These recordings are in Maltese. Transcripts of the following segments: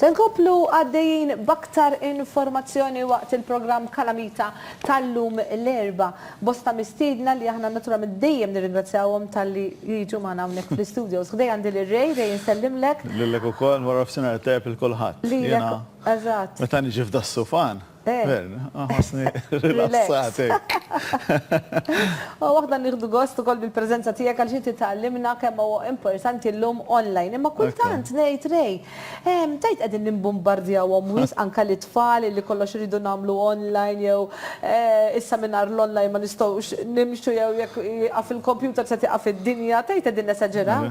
Se nkomplu għaddejjin b'aktar informazzjoni waqt il-programm Kalamita tal-lum l-Erbgħa. Bosta mistiedna li aħna naturalment dejjem nirringrazzjawhom talli jiġu magħna hawnhekk fl-istudios. Ħdejja għandi lil Ray, Ray insellimlek. Lilek ukoll, warafsinhar tajjeb lil kulħadd. Lilek, eżatt. Meta niġi f'Dassufan, Gvern, nħossni rilassat hekk. U aħna nieħdu gost ukoll bil-preżenza tiegħek għaliex inti tgħallimna kemm huwa importanti llum online. Imma kultant ngħid, Ray, tajt qegħdin nimbumbardjawhom wisq anke lit-tfal li kollox iridu nagħmlu online jew issa mingħajr l-online ma nistgħux nimxu jew jekk jieqaf il-kompjuter se tieqaf id-dinja, tajt qegħdin nesaġeraw?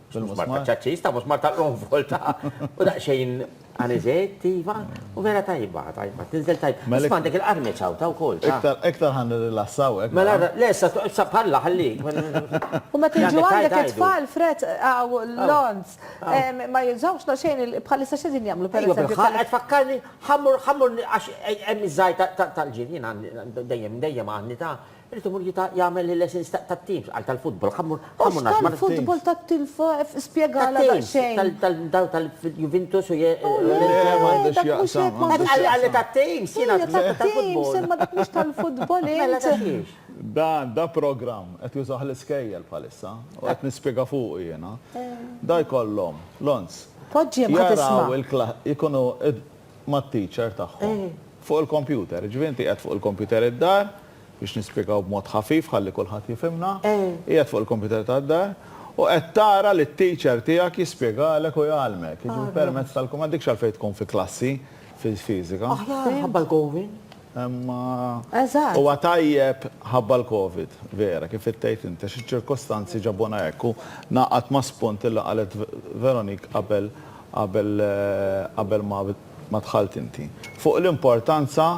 Bil-musmar ta' ċaċċis, ta' musmar ta' l-onfol ta' u daqsxejn aniżejt, iva, u vera tajba, tajba, tinżel tajba. Mela Isma' għandek il-qarmi ċawta wkoll. Iktar, iktar ħa nirrilassa hawnhekk. Mela, mela. le, issa, issa bħallah ħallik. U meta jiġu għandek it-tfal fred hawn l-għonż, ma jużawx la xejn il, bħalissa x'qegħdin jagħmlu pereżempju? Iva, bil-ħaqq qed tfakkarni, ħammur, ħammur, għax hemm iż-żgħir tal-ġirien għandi, dejjem, dejjem għandi ta', Irid imur jita' jagħmel il-lessons ta' tat-teams, qal tal-futbol, ħa mmur, ħa mmur nagħżma. Mhux tal-futbol tat-team, spjegalha daqsxejn. Tat-teams, dawn tal-Juventus u. Le, m'għandu x'jaqsam. Qal li tat-teams, jiena għad ftakart tal-futbol. Imma dak mhux tal-futbol int. Mela ta' xiex? Dan, da programm, qed jużah l-iskejjel bħalissa, u qed nispjega fuqu jiena. Da jkollhom, l-ons. Poġġihom ħa tisma'. Jaraw il-klass, ikunu. mat-teacher tagħhom fuq il-kompjuter. Jiġifieri inti qiegħed fuq il-kompjuter id-dar, biex nispjegaw b'mod ħafif ħalli kulħadd jifhimna, qiegħed fuq il-kompjuter tad-dar u qed tara lit-teacher tiegħek jispjegalek u jgħallmek, jiġifieri permezz tal-kumandi, m'għandekx għalfejn tkun fi klassi fiżika. Aħjar ħabba l-gowin. Imma huwa tajjeb ħabba l-Covid, vera, kif qed tgħid int, għax iċ-ċirkostanzi ġabuna hekk u ngħaqad ma' spunt li qalet Veronique qabel qabel qabel ma ma dħalt inti. Fuq l-importanza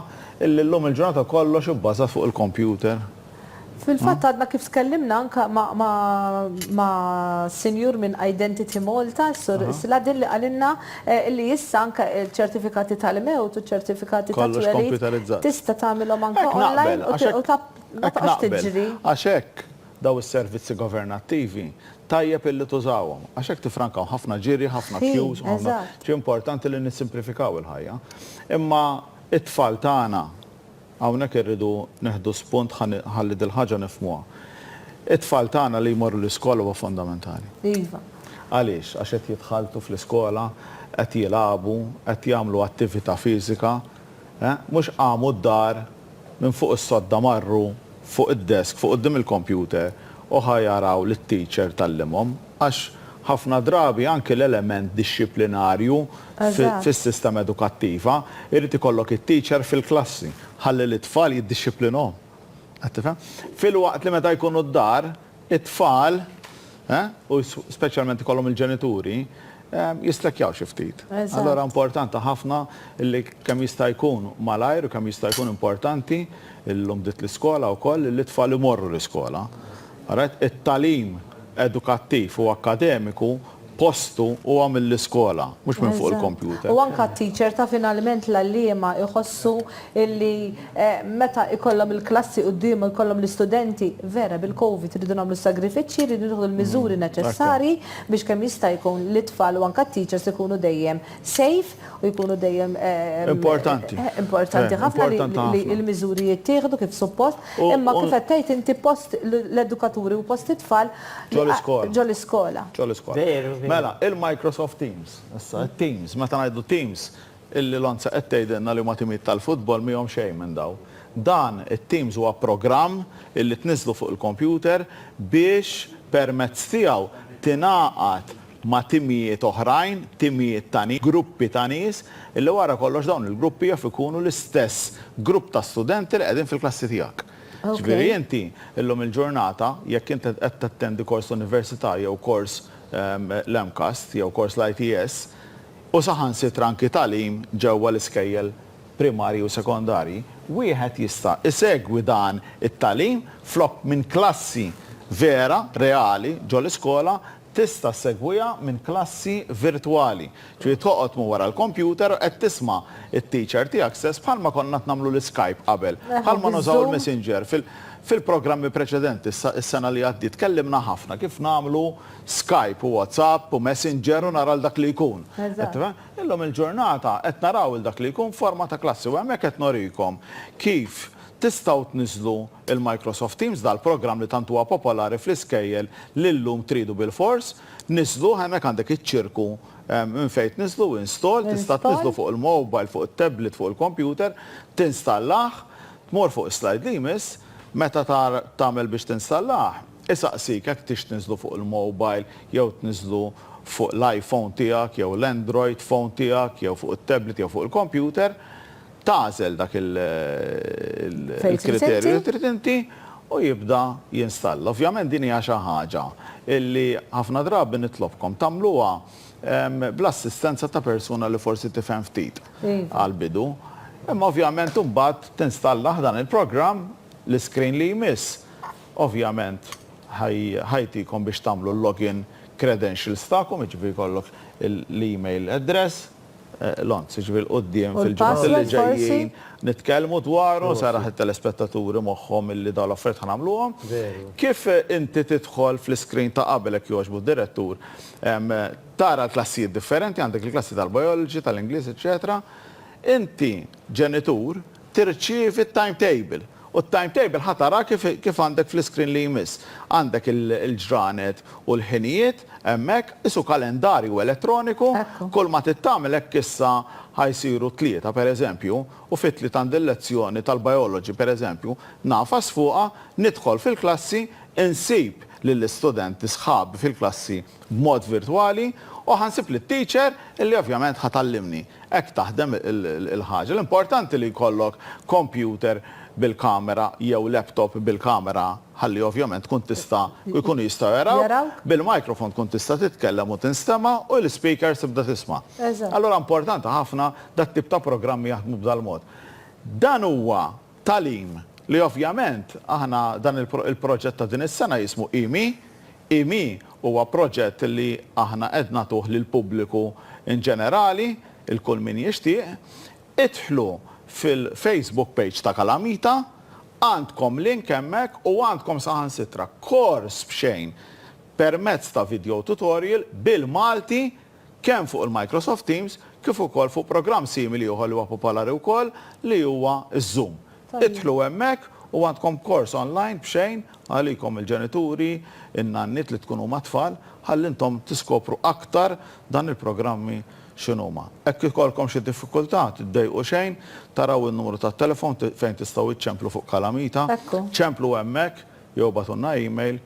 illi llum il-ġurnata kollox ibbażat fuq il-kompjuter. Fil-fatt għadna kif tkellimna anke ma' sinjur minn Identity Malta, is-Sur Sladin li qalilna li issa anke ċ-ċertifikati tal-mewt u ċ-ċertifikati ta' twelid tista' tagħmilhom anke online u ma tibqax tiġri. Għax hekk dawn is-servizzi governattivi tajjeb illi tużawhom. Għax hekk tiffrankaw ħafna ġiri, ħafna queues u ħafna. Importanti li nissimplifikaw il-ħajja. Imma t-tfal tagħna Hawnhekk irridu neħdu spunt ħalli dil-ħaġa nifhmuha. It-tfal tagħna li jmorru l-iskola huwa fondamentali. Iva. Għaliex? Għax qed jidħaltu fl-iskola, qed jilagħbu, qed jagħmlu attività fiżika, eh? Mhux qamu d-dar, minn fuq is-sodda marru fuq id-desk, fuq quddiem il-kompjuter u ħa jaraw lit-teacher tgħallimhom. Għax ħafna drabi anki l-element dixxiplinarju fis-sistema edukattiva jrid ikollok it-teacher fil-klassi ħalli lit-tfal jiddixxiplinhom. Qed tifhem? Filwaqt li meta jkunu d-dar, it-tfal, u speċjalment ikollhom il-ġenituri, jistrekkjaw xi ftit. Allura importanti ħafna li kemm jista' jkun malajr u kemm jista' jkun importanti, illum bdiet l-iskola wkoll, li t-tfal imorru l-iskola. Ret, It-tagħlim edukattiv u akkademiku postu huwa mill-iskola, mhux minn fuq il-kompjuter. Eżatt. U anke t-teacher ta' finalment l-għalliema jħossu illi meta jkollhom il-klassi quddiemhom jkollhom l-istudenti, vera bil-Covid irridu nagħmlu s-sagrifiċċji, irridu nieħdu l-miżuri neċessarji biex kemm jista' jkun lit-tfal u anke t-teachers ikunu dejjem safe u jkunu dejjem importanti. Importanti ħafna li l-miżuri jittieħdu kif suppost, imma kif qed tgħid inti post l-edukaturi u post it-tfal ġol-iskola. Ġol-iskola. Veru. Mela, il-Microsoft Teams, issa it-Teams, meta ngħidu Teams, illi Lonza qed tgħidilna li huma timijiet tal-futbol mihom xejn minn dawn. Dan it-Teams huwa programm illi tniżżlu fuq il-kompjuter biex permezz tiegħu tingħaqad ma' timijiet oħrajn, timijiet ta' nies, gruppi ta' nies, illi wara kollox dawn il-gruppi jaf ikunu l-istess grupp ta' studenti li qegħdin fil-klassi tiegħek. Jiġifieri inti llum il-ġurnata jekk int qed tattendi kors universitarju jew kors l-MCAST jew kors l-ITS u saħansitra anki tagħlim ġewwa l-iskejjel primarji u sekondarji, wieħed jista' isegwi dan it-tagħlim flok minn klassi vera, reali, ġol-iskola, Tista' ssegwiha minn klassi virtwali, ġifieri toqgħod minn wara l-kompjuter u qed tisma' t-teacher tiegħek stess bħalma konna qed nagħmlu l-Skype qabel, bħalma nużaw il-Messenger. Fil-programmi preċedenti s-sena li għaddiet tkellimna ħafna kif nagħmlu Skype u WhatsApp u Messenger u nara 'l dak li jkun. Qed tifhem? Illum il-ġurnata qed naraw 'l dak li jkun f'forma ta' klassi u hemmhekk qed norikom kif Tistgħu tniżżlu l-Microsoft Teams, dal-programm li tant huwa popolari fl-iskejjel li llum tridu bilfors. Niżżluh, hemmhekk għandek iċ-ċirku minn fejn tniżżlu, install, tista' tniżżlu fuq il-mobile, fuq it-tablet, fuq il-computer, tinstallah, tmur fuq is-slide li jmiss, meta tagħmel biex tinstallah, isaqsik jekk tix tniżżlu fuq il-mobile jew tniżżlu fuq l-iPhone tiegħek jew l-Android phone tiegħek jew fuq it-tablet jew fuq il-computer. tagħżel dak il-kriterju li trid inti u jibda jinstalla. Ovvjament din hija xi ħaġa li ħafna drabi nitlobkom tagħmluha bl-assistenza ta' persuna li forsi tifhem ftit għall-bidu. Imma ovvjament imbagħad tinstalla ħdan il-programm, l-iscreen li jmiss ovvjament ħa jtikom biex tagħmlu l-login credentials tagħkom, jiġifieri jkollok l-email address, l-onz, jiġifieri l-quddiem fil-ġimgħat li ġejjin nitkellmu dwaru, nsarrah lit-telespettaturi moħħhom illi dawn l-affarijiet ħa nagħmluhom. Kif inti tidħol fl-iscreen ta' qabel jekk jogħġbu d-direttur, tara l-klassijiet differenti, għandek il-klassi tal-biology, tal-Ingliż, eċċetera, inti ġenitur tirċievi t-timetable u t-timetable ħa tarah kif għandek fl-iscreen li jmiss. Għandek il-ġranet u l-ħinijiet Hemmhekk, qisu kalendarju elettroniku, kull ma trid tagħmel hekk issa ħa jsiru t-Tlieta, pereżempju, u fit-Tliet għandi l-lezzjoni tal-Biology, pereżempju, ngħafas fuqha, nidħol fil-klassi, insib lill-istudenti sħabi fil-klassi b'mod virtwali u ħa nsib lit-teacher li ovvjament ħa tgħallimni. Hekk taħdem il-ħaġa. L-importanti li jkollok computer bil-kamera jew laptop bil-kamera. ħalli ovvjament tkun tista' jkunu jistgħu jarawk, bil-microphone tkun tista' titkellem u tinstema' u l-speakers tibda tisma'. Allura importanti ħafna dat-tip ta' programmi jaħdmu b'dal-mod. Dan huwa tagħlim li ovvjament aħna dan il-proġett ta' din is-sena jismu IMI. IMI huwa proġett li aħna qed nagħtuh lill-pubbliku in ġenerali, 'il kull min jixtieq. Idħlu fil-Facebook page ta' Kalamita Għandkom link hemmhekk u għandkom saħansitra kors b'xejn permezz ta' video tutorial bil-Malti kemm fuq il-Microsoft Teams kif ukoll fuq programm simili ieħor li huwa popolari wkoll li huwa z-Zoom. Idħlu hemmhekk u għandkom kors online b'xejn għalikom il-ġenituri, in-nanniet li tkunu mat-tfal ħalli intom tiskopru aktar dan il-programmi x'inhuma. Hekk ikollkom xi diffikultà, tiddejqu xejn, taraw in-numru tat-telefon fejn tistgħu iċċemplu fuq kalamita, ċemplu hemmhekk jew ibgħatulna email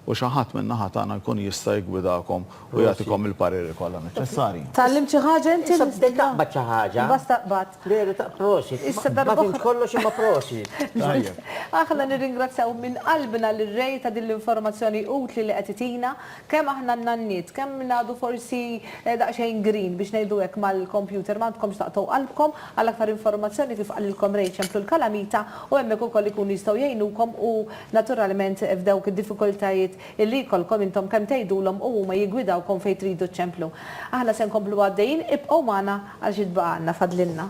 u xi ħadd min-naħa tagħna jkun jista' jiggwidakom u jagħtikom il-pariri kollha neċċessarji. Tgħallimt xi ħaġa inti? Issa bdejt taqbad xi ħaġa. Iva staqbadt. Veru ta' prosit. Ma fhimtx kollox imma prosit. Tajjeb. Aħna nirringrazzjaw minn qalbna lir-Re ta' din l-informazzjoni utli li qed itina. Kemm aħna n-nanniet, kemm ngħadu forsi daqsxejn green biex ngħidu hekk mal-kompjuter m'għandkomx taqtgħu qalbkom, għal aktar informazzjoni kif qalilkom Ray ċemplu l-kalamita u hemmhekk ukoll ikunu jistgħu jgħinukom u naturalment f'dawk id-diffikultajiet illi jkollkom intom kemm tgħidulhom u huma jiggwidawkom fejn tridu ċċemplu. Aħna se nkomplu għaddejjin ibqgħu magħna għal xi tbaqgħalna fadlilna.